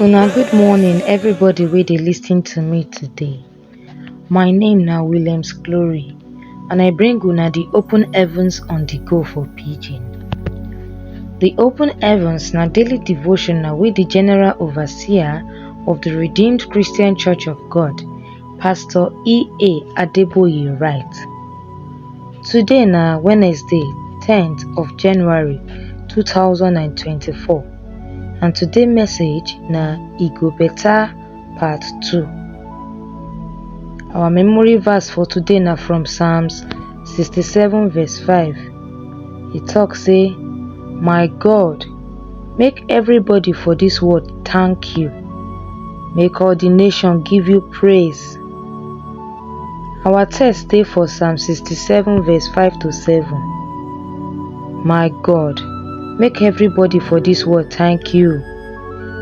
Una good morning everybody wey dey lis ten to me today. My name na Williams Glory and I bring una the open heavens on the go for pidgin. The open heavens na daily devotional wey the general overseer of the Redeemed Christian Church of God Pastor EA Adeboye write, Today na Wednesday 10th of January 2024 and today message na E Go Better Part 2. Our memory verse for today na from Psalms 67 verse 5. E talk say, My God, Make everybody for dis world thank you. Make all the nation give you praise. Our text dey for Psalm 67 verse 5 to 7. My God, make everybody for dis world thank you.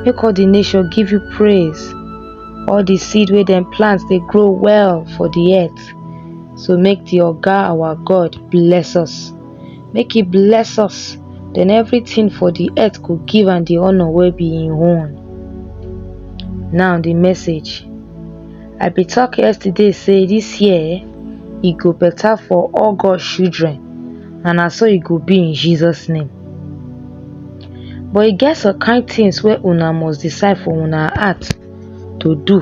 Make all the nation give you praise. All the seed wey dem plant dey grow well for the earth. So make the Oga our God bless us. make e bless us, den everytin for di earth go give am di honour wey be im own. Now di message, I be talk yesterday sey dis year eh, e go better for all God children and na so e go be in Jesus name. But e get some kind tins wey una must decide for una heart to do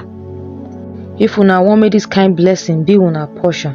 if una want make dis kind blessing be una portion.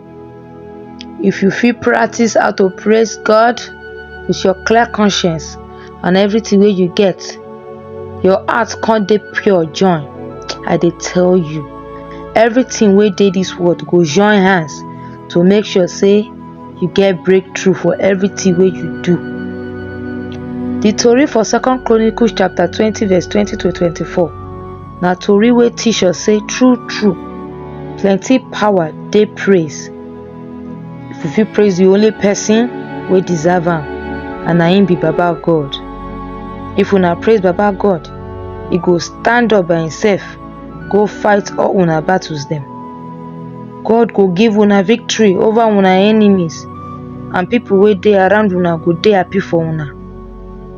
If you fit practice how to praise God with your clear conscience and everything wey you get, your heart come dey pure join. I dey tell you, everything wey dey this world go join hands to make sure say you get breakthrough for everything wey you do. The tori for Second Chronicles chapter twenty verse twenty to twenty-four. na tori wey teach us say true true plenty power dey praise if we fit praise the only person wey deserve am and na him be baba god if una praise baba god he go stand up by himself go fight all una battles dem god go give una victory over una enemies and people wey dey around una go dey happy for una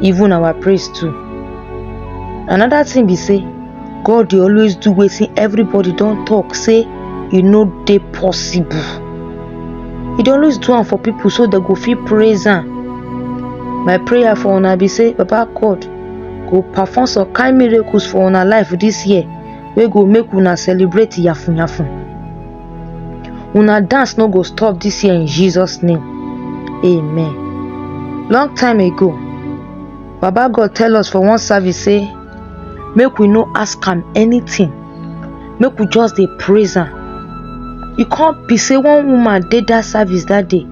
even our praise too another thing be say god dey always do wetin everybody don talk say e no dey possible e dey always do am for people so dem go fit praise am my prayer for una be say baba god go perform some kind miracles for una life this year wey go make una celebrate yafun yafun una dance no go stop this year in jesus name amen long time ago baba god tell us for one service say make we no ask am anything make we just dey praise am e come be say one woman dey that service that day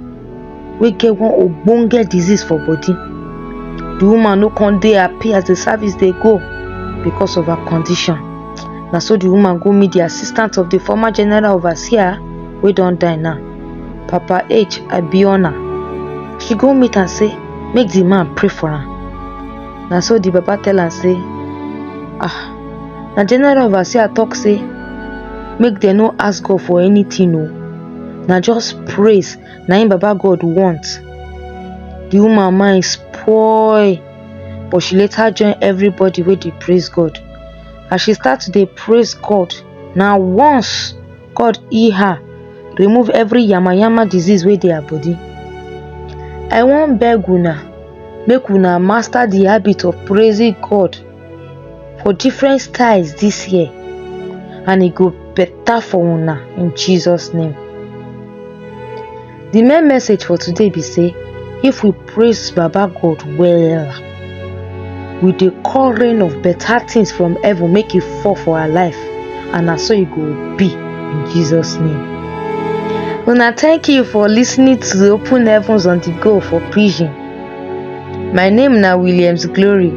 wey get one ogbonge disease for body the woman no come dey happy as the service dey go because of her condition na so the woman go meet the assistant of the former general overseer wey don die now papa h abiona she go meet am say make the man pray for am na so the papa tell am say ah na general overseer talk say make dem no ask god for anything o na just praise na im baba god want the woman mind spoil but she later join everybody wey dey praise god as she start to dey praise god na once god heal her remove every yamayama disease wey dey her body i wan beg una make una master the habit of praising god for different styles this year and e go better for una in Jesus name. The main message for today be say if we praise Baba God well we dey call rain of better things from heaven make e fall for our life and na so e go be in Jesus name. Una thank you for listening to Open Heavens on the Go for Pidgin. My name na Williams Glory.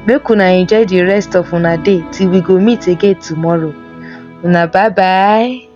Make una enjoy the rest of una day till we go meet again tomorrow. Una bye bye.